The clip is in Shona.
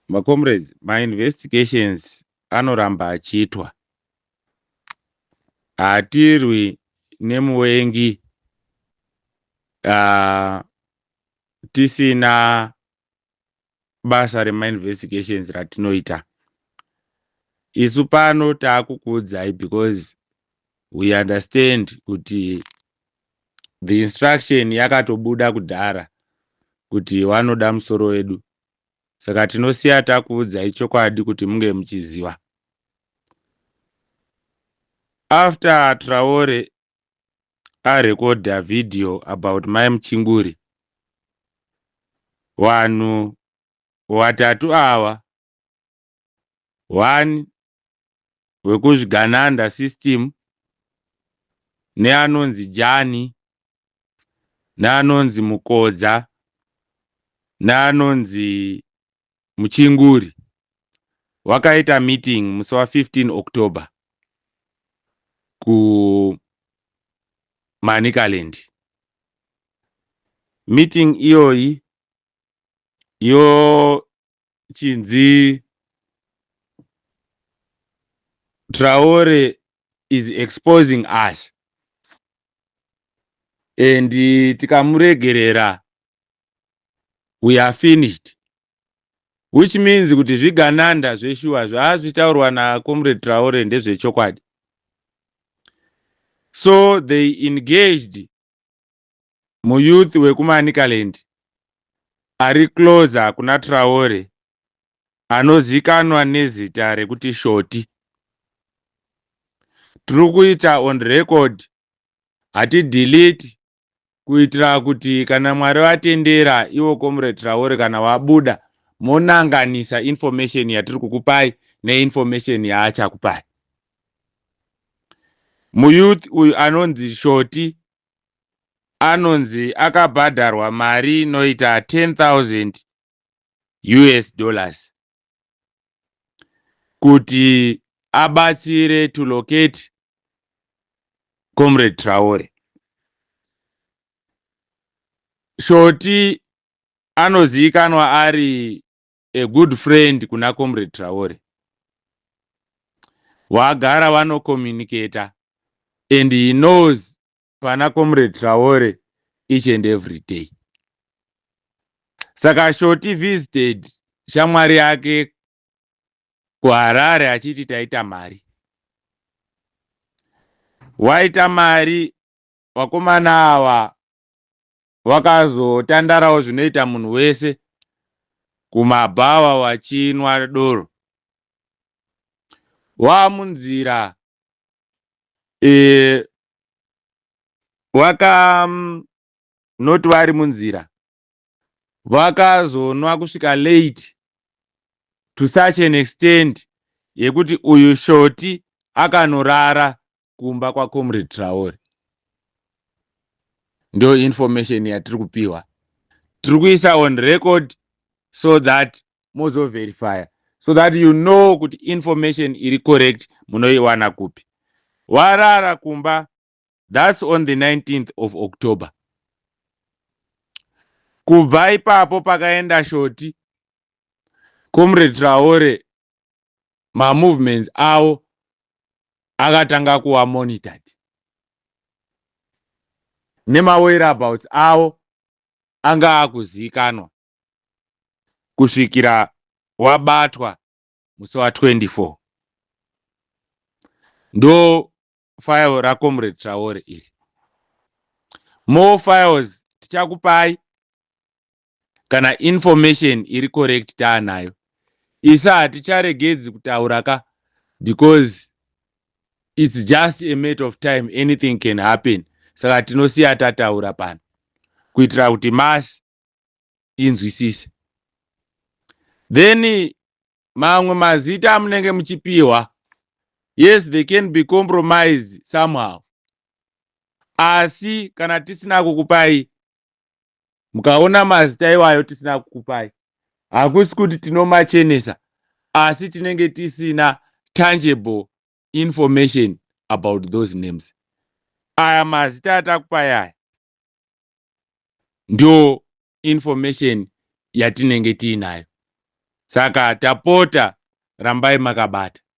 Ma comrades, ma investigations anoramba achiitwa. Hatirwi nemuvengi uh, tisina basa rema investigations ratinoita. Isu pano taakukuudzai because we understand kuti the instruction yakatobuda kudhara kuti wanoda musoro wedu saka tinosiya takuudzai chokwadi kuti munge muchiziva after traore arekodha video about mai muchinguri vanhu vatatu ava one wekuzvigananda system neanonzi jani neanonzi mukodza neanonzi muchinguri wakaita meeting musi wa 15 october kumanicaland meeting iyoyi yo chinzi Traore is exposing us and tikamuregerera we are finished which means kuti zvigananda zveshuwa zvaazvitaurwa nacomrade Traore ndezvechokwadi so they engaged muyouth wekuManicaland ari closer kuna Traore anozikanwa nezita rekuti Shoti. Tiri kuita on record hati delete kuitira kuti kana Mwari vatendera ivo Comrade Traore kana wabuda monanganisa information yatiri kukupai neinformation yaachakupai. Muyouth uyu anonzi Shoti anonzi akabhadharwa mari inoita 10,000 us dollars kuti abatsire to locate comrade traore shoti anozivikanwa ari a good friend kuna comrade traore wagara vanocommunicator and he knows pana comrade traore each and every day saka shoti visited shamwari yake kuharare achiti taita mari waita mari vakomana ava vakazotandarawo zvinoita munhu wese kumabhawa vachinwa doro. Vamunzira e, vaka mm, not vari munzira vakazonwa kusvika late to such an extent yekuti uyu shoti akanorara kumba kwacomrade traore ndo information yatiri kupiwa tiri kuisa on record so that mozoverifya so that you know kuti information iri correct munoiwana kupi warara kumba thats on the 19th of october kubva ipapo pakaenda shoti comrade traore mamovements avo akatanga kuva monitored nemawhereabouts avo anga akuzivikanwa kusvikira wabatwa musi wa 24 ndo file racomrade traore iri more files tichakupai kana information iri correct taanayo isa haticharegedzi kutaura ka because it's just a matter of time anything can happen saka tinosiya tataura pano kuitira kuti masi inzwisise then mamwe mazita amunenge muchipiwa yes they can be compromised somehow asi kana tisina kukupai mukaona mazita iwayo tisina kukupai hakusi kuti tinomachenesa asi tinenge tisina tangible information about those names aya mazita atakupai aya ndo information yatinenge tiinayo saka tapota rambai makabata